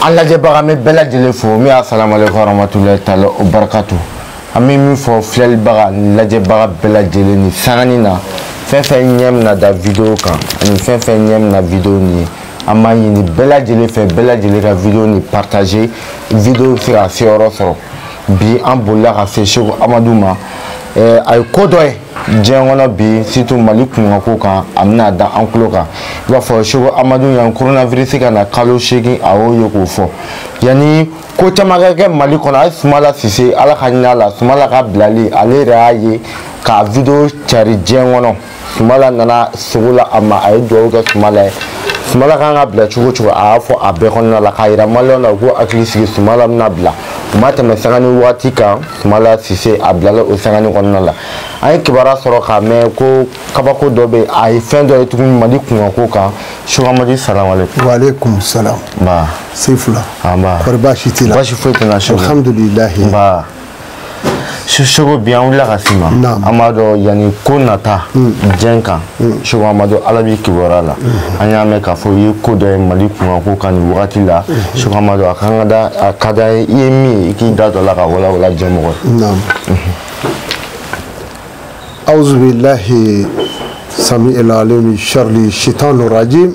an lajɛbaga min bɛɛ lajɛlen fo min asalamaleykum warahmatulahi taala wabarakatu an bɛ min fo filɛlibaga ni lajɛbaga bɛɛ lajɛlen ni sangani na fɛn fɛn ɲɛ bɛna da video kan ani fɛn fɛn ɲɛ bɛna video nin ye an b'a ɲini bɛɛ lajɛlen fɛ bɛɛ lajɛlen ka video nin partager video bɛ se ka seyɔrɔ sɔrɔ bi an bolila ka se seko amadu ma a ye ko dɔ ye diɲɛ kɔnɔ bi surtout mali kunkanko kan a bɛna da an tulo kan i b'a fɔ seko amadu yanni koronavirisi ka na kalo seegin a y'o ye k'o fɔ yanni ko caman ka kɛ mali kɔnɔ hali sumala sise ala ka hinɛ a la sumala ka bilali ale yɛrɛ y'a ye ka video cari diɲɛ kɔnɔ sumala nana sogo la a ma a ye dugawu kɛ sumala ye sumala kan ka bila cogo cogo a y'a fɔ a bɛɛ kɔnɔna la k'a yira maliyɛnw na u k'u hakili sigi sumala bɛna bila a ma tɛmɛ sanga ni waati kan Sumala Sise a bilala o sangani kɔnɔna la an ye kibaruya sɔrɔ k'a mɛn ko kabako dɔ bɛ a ye fɛn dɔ ye tuguni Mali kunkanko kan Seko Amadu salamalekum. Walekum salam. Nba. Se fila. Anba. Kɔri baasi t'i la. Baasi foyi tɛ n na Seko. Alhamdulilahi. Nba. Seko bi an wulila ka s'i ma. Naamu. An b'a dɔn yanni ko nata. Diɲɛ kan. Seko Amadu Ala b'i kibaruya la an y'a mɛn k'a fɔ i ye ko dɔ ye Mali kunkanko kan nin wagati la Seko Amadu a kan ka da a ka d'an ye i ye min ye i k'i da don a la k'a walawala jɛmɔgɔ ye. Naam. Awuzu bilahi sami el alim sharri shitani rajim.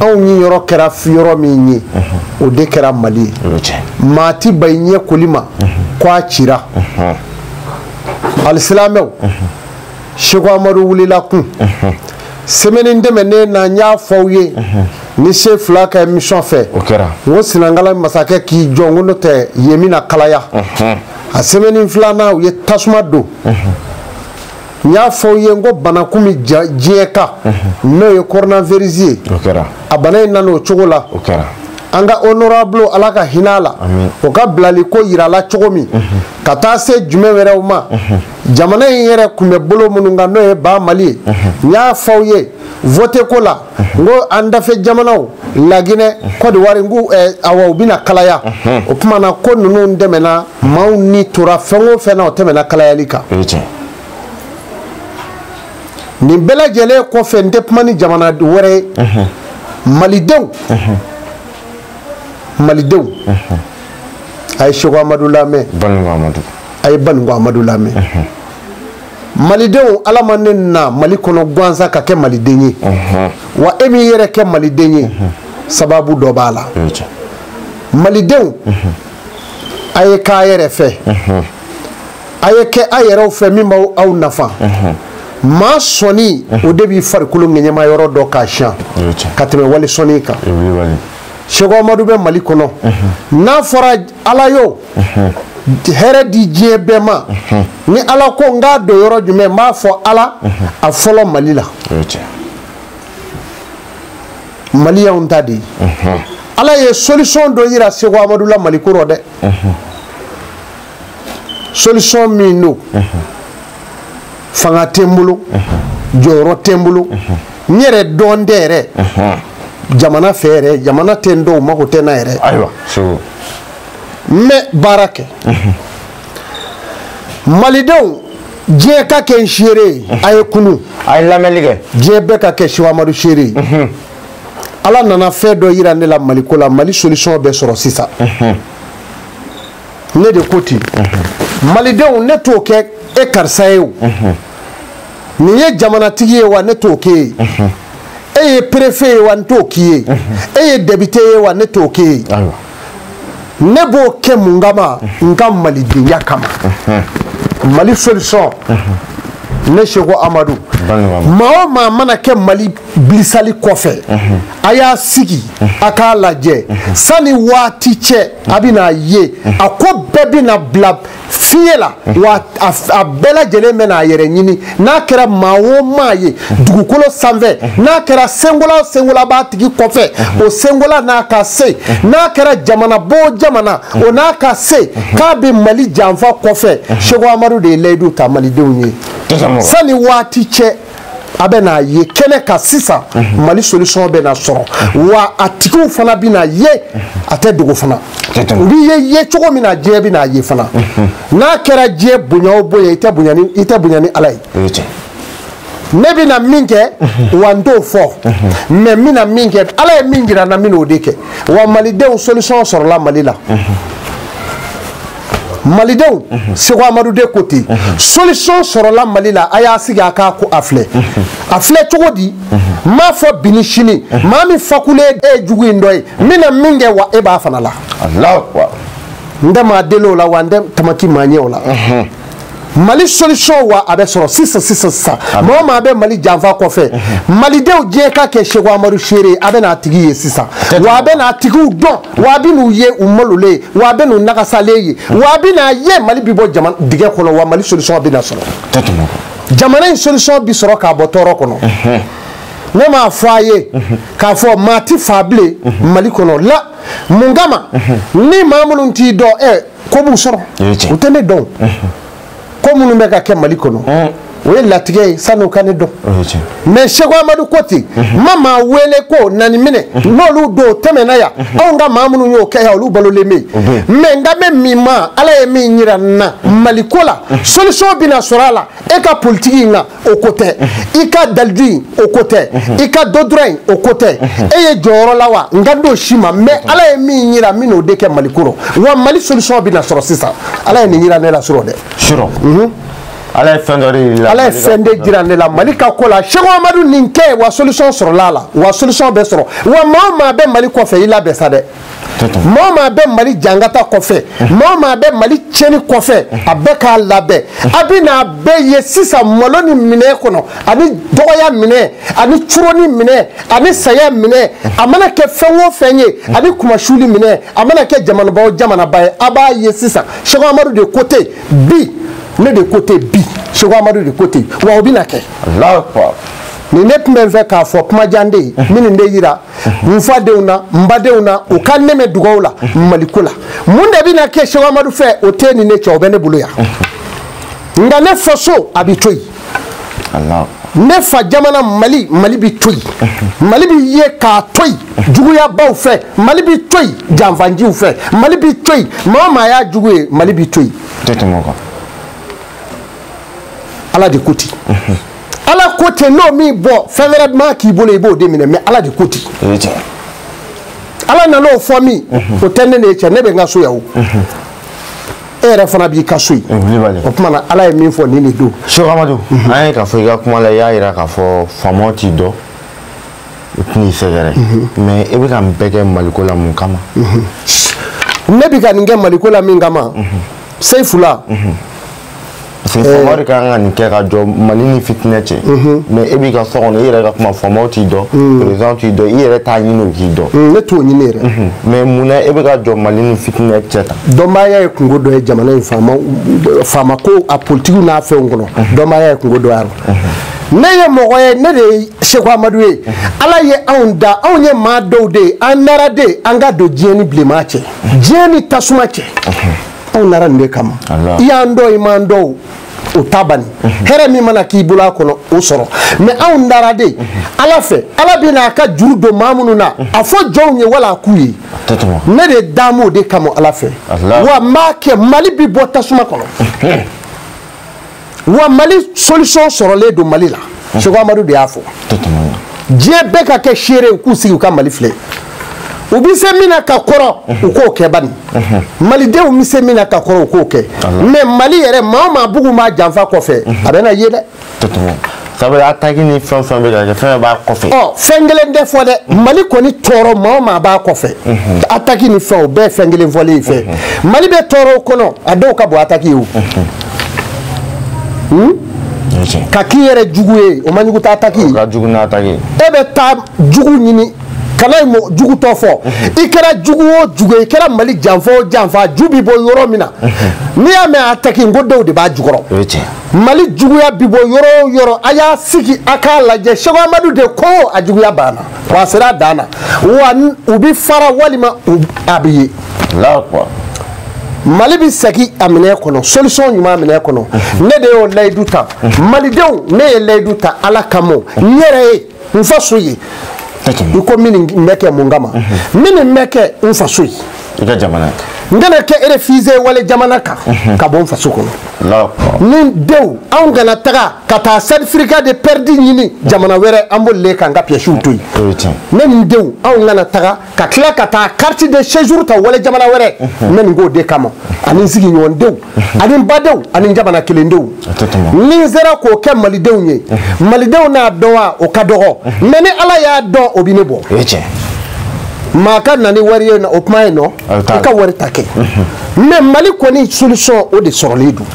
anw niyɔrɔ kɛra yɔrɔ min ye o de kɛra mali ye maa ti ban i ɲɛ koli ma ko a cira alisilamɛw seko amadu wulila kun sɛmɛni tɛmɛnen na n y'a fɔ aw ye ni se fila ka emission fɛ n ko senegali masakɛ k'i jɔ n ko n'o tɛ yen bɛna kalaya a sɛmɛni filanan u ye tasuma don n y'a fɔ u ye n ko bana kun bɛ diɲɛ kan n'o ye coronavirus ye o kɛra a bana in nana o cogo la o kɛra an ka honorable ala ka hinɛ a la o ka bilali ko yirala cogo min ka taa se jumɛn wɛrɛw ma jamana in yɛrɛ kun bɛ bolo minnu kan n'o ye ba mali ye n y'a fɔ aw ye vote ko la n ko an dafɛ jamanaw laginɛ kɔdiwari n ko eh, awa u bɛna kalaya o tuma na ko ninnu tɛmɛna maaw ni tora fɛn o fɛn na o tɛmɛna kalayali kan nin bɛɛ lajɛlen kɔfɛ n tɛ kuma ni jamana wɛrɛ ye malidenw malidenw a ye seko amadu lamɛn a ye baninko amadu lamɛn malidenw ala ma ne na mali kɔnɔ gansan ka kɛ maliden ye wa e m'i yɛrɛ kɛ maliden ye sababu dɔ b'a la malidenw a ye k'a yɛrɛ fɛ a ye kɛ a yɛrɛw fɛ min b'aw aw nafa maa sɔnin o de b'i farikolo ŋɛɲɛma yɔrɔ dɔn k'a siyan ka tɛmɛ wali sɔnin kan seko amadu bɛ mali kɔnɔ n'a fɔra ala yo hɛrɛ di diɲɛ bɛɛ ma ni ala ko n k'a don yɔrɔ jumɛn n b'a fɔ ala a fɔlɔ mali la mali y'anw ta de ye ala ye solution dɔ yira seko amadu la mali ko rɔ dɛ solution min don fanga tɛ n bolo jɔyɔrɔ tɛ n bolo n yɛrɛ dɔn tɛ yɛrɛ jamana fɛ yɛrɛ jamana tɛ n dɔn u mago tɛ n na yɛrɛ ayiwa n bɛ baara kɛ malidenw diɲɛ ka kɛ n seere ye a ye kunun a ye lamɛnni kɛ diɲɛ bɛɛ ka kɛ seko amadu seere ye ala nana fɛn dɔ yira ne la maliko la mali solution bɛ sɔrɔ sisan ne de ko ten malidenw ne t'o kɛ e karisa ye o n'i ye jamanatigi ye wa ne t'o k'e ye e ye perefe ye wa n t'o k'i ye e ye depite ye wa ne t'o k'e ye ne b'o kɛ mun kama n ka malidenya kama mali solution ne seko amadu maa o maa mana kɛ mali bilisali kɔfɛ a y'a sigi a k'a lajɛ sani waati cɛ a bɛna ye a ko bɛɛ bɛna bila fiɲɛ la wa a bɛɛ lajɛlen bɛna a yɛrɛ ɲini n'a kɛra maa o maa ye dugukolo sanfɛ n'a kɛra senkola o senkola b'a tigi kɔfɛ o senkola n'a ka se n'a kɛra jamana b'o jamana o n'a ka se k'a bɛ mali janfa kɔfɛ seko amadu de ye layidu ta malidenw ye sani waati cɛ a bɛ n'a ye kɛnɛ kan sisan mhm. mali solution bɛ na sɔrɔ mhm. wa a tigiw fana bɛ na ye mhm. a tɛ dogo fana u b'i ye ye cogo min na diɲɛ bɛ n'a ye fana n'a kɛra diɲɛ bonya o bonya i tɛ bonya ni ala ye ne bɛ na min kɛ wa n t'o fɔ mais n bɛ na min kɛ ala ye min jira n na n bɛ n'o de kɛ wa malidenw solution sɔrɔla mali la. malidenw seko amadu de ko ten solution sɔrɔla mali la a y'a sigi a k'a ko a filɛ a filɛ cogo di n m'a fɔ bi ni sini maa min fakulen e ye jugu in dɔ ye n bɛna min kɛ wa e b'a fana la n tɛ maa deli o la wa n tɛ tamaki maa ɲɛ o la mali solution wa a bɛ sɔrɔ sisan maa o maa bɛ mali janfa kɔfɛ mhm. malidenw diɲɛ ka kɛ seko amadu seere a bɛ n'a tigi ye sisan wa a bɛ n'a tigiw dɔn wa a bɛ n'u ye u malolen wa a bɛ n'u nagasalen ye mhm. wa a bɛ n'a ye mali bɛ bɔ dingɛ kɔnɔ wa mali solution bɛ na sɔrɔ jamana in solution bɛ sɔrɔ k'a bɔ tɔɔrɔ kɔnɔ mhm. ne m'a fɔ a ye k'a fɔ maa ti fa bilen mali kɔnɔ la mun kama ni maa minnu t'i dɔn ɛ ko b'u sɔrɔ u tɛ ne dɔn ko minnu bɛ ka kɛ mali kɔnɔ o ye latigɛ ye sani u ka ne dɔn mais seko amadu ko ten n ma maa wele ko nani minɛ n'olu don tɛmɛna yan anw ka maa minnu y'o kɛ yan olu balolen bɛ yen mais n kan bɛ min ma ala ye min yira n na maliko la solution bɛna sɔrɔ a la e ka politiki in kan o ko tɛ i ka dalilu in o ko tɛ i ka doctorat in o ko tɛ e ye jɔyɔrɔ la wa n kan t'o si ma mais ala ye min yira n bɛn'o de kɛ maliko rɔ wa mali solution bɛna sɔrɔ sisan ala ye nin yira ne la surɔ dɛ surɔ mhm. ala ye fɛn dɔ de yira ala ye fɛn de jira ne la mali ka ko la seko amadu nin kɛ wa solution sɔrɔla a la wa solution bɛ sɔrɔ wa maa o maa bɛ mali kɔfɛ i labɛn sa dɛ maa o maa bɛ mali jangata kɔfɛ maa o maa bɛ mali tiɲɛni kɔfɛ a bɛɛ k'a labɛn a bɛ n'a bɛɛ ye sisan maloni minɛn kɔnɔ ani dɔgɔya minɛn ani coroni minɛn ani saya minɛn a mana kɛ fɛn o fɛn ye ani kunmasuli minɛn a mana kɛ jamanaba o jamanaba ye a b'a ye sisan seko amadu de ko ten bi ne de ko ten bi seko amadu de ko ten wa o bɛna kɛ nin ne tun bɛ n fɛ k'a fɔ kumajan de ye n bɛ nin de yira n fadenw na n badenw na u ka n dɛmɛ dugaw la maliko la mun de bɛna kɛ seko amadu fɛ o tɛ ni ne cɛ o bɛ ne bolo yan nka ne faso a bɛ to yen ne fa jamana mali mali bɛ to yen mali bɛ ye k'a to yen juguyabaaw fɛ mali bɛ to yen janfanciw fɛ mali bɛ to yen maa o maa y'a jugu ye mali bɛ to yen ala de ko ten ala ko ten n'o min bɔ fɛn wɛrɛ ma k'i bolo i b'o de minɛ mais ala de ko ten ala nana o fɔ min o tɛ ne n'e cɛ ne bɛ n ka so yan o e yɛrɛ fana b'i ka so yen o tuma na ala ye min fɔ nin de don seko amadu an ye k'a fɔ i ka kuma la i y'a jira k'a fɔ faamaw t'i dɔn u tɛn'i sɛgɛrɛ mais e bɛ ka nin bɛɛ kɛ maliko la mun kama ne bɛ ka nin kɛ maliko la min kama seyifula parce que faama de ka kan ka nin kɛ ka jɔ mali ni fitinɛ cɛ mais e b'i ka so kɔnɔ i yɛrɛ ka kuma faamaw t'i dɔn président t'i dɔn i yɛrɛ t'a ɲini u k'i dɔn ne t'o ɲini yɛrɛ mais mun na e bɛ ka jɔ mali ni fitinɛ cɛ tan dɔnbaaya ye kunko dɔ ye jamana in faama faama ko a politikiw n'a fɛnw kɔnɔ dɔnbaaya ye kunko dɔ y'a la ne ye mɔgɔ ye ne de ye seku amadu ye ala ye anw da anw ye maa dɔw de ye an nara de an ka don diɲɛ ni bilenman cɛ diɲɛ ni tasuma cɛ anw nara nin de kama i y'an dɔn i m'an dɔn o ta bani mhm. hɛrɛ min mana k'i bolo a kɔnɔ o sɔrɔ mais anw dara de mhm. ala fɛ ala bɛ n'a ka juru don maa minnu na mhm. a fɔ jɔnw ye wala a k'u ye ne de damu o de kama ala fɛ wa n b'a kɛ mali bɛ bɔ tasuma kɔnɔ wa mali solution sɔrɔlen don mali la seku amadu de y'a fɔ diɲɛ bɛɛ ka kɛ seere u k'u sigi u ka mali filɛ u bɛ se min na ka kɔrɔ u k'o kɛ bani malidenw bɛ se min na ka kɔrɔ u k'o kɛ mais mali yɛrɛ maa o maa bugun b'a janfa kɔfɛ a bɛ na ye dɛ sabula attaque ni fɛn fɛn bɛ ka kɛ fɛn b'a kɔfɛ. ɔ fɛn kelen tɛ fɔ dɛ mali kɔni tɔɔrɔ maa o maa b'a kɔfɛ attaque ni fɛn o bɛɛ fɛn kelen fɔlen in fɛ mali bɛ tɔɔrɔ o kɔnɔ a dɔw ka bon attaque ye o. ka k'i yɛrɛ jugu ye o man jugu t'attaque ye. o ka jugu n'attaque ye. e bɛ taa jugu ɲini. kana ye mɔgɔ jugu tɔ fɔ i kɛra jugu o jugu ye i kɛra mali janfa o janfa ju bi bɔ yɔrɔ min na n'i y'a mɛn attaque n ko dɔw de b'a jukɔrɔ mali juguya bi bɔ yɔrɔ o yɔrɔ a y'a sigi a k'a lajɛ seku amadu de ko a juguya banna wa a sera a dan na wa u bɛ fara walima a bɛ ye mali bɛ segin a minɛ kɔnɔ solution ɲuman minɛ kɔnɔ ne de y'o layidu ta malidenw ne ye layidu ta ala kama n yɛrɛ ye n faso ye i ko min bɛ kɛ mun kama min bɛ kɛ n faso ye i ka jamana n kana kɛ réfugié wali jamana kan ka bɔ n faso kɔnɔ ni n denw anw kana taga ka taa certificat de perte ɲini jamana wɛrɛ an bolilen k'an ka piyɛsiw to yen ne ni n denw anw kana taga ka tila ka taa carte de séjour ta wali jamana wɛrɛ n bɛ nin k'o de kama ani n sigiɲɔgɔndenw ani n badenw ani n jamana kelendenw ni n sera k'o kɛ malidenw ye malidenw n'a dɔn wa o ka dɔgɔ mais ni ala y'a dɔn o bɛ ne bɔ maa ka na ni wari ye o kuma ye non i ka wari ta kɛ mais mali kɔni solution o de sɔrɔlen don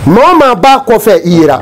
maa o maa b'a kɔfɛ i yera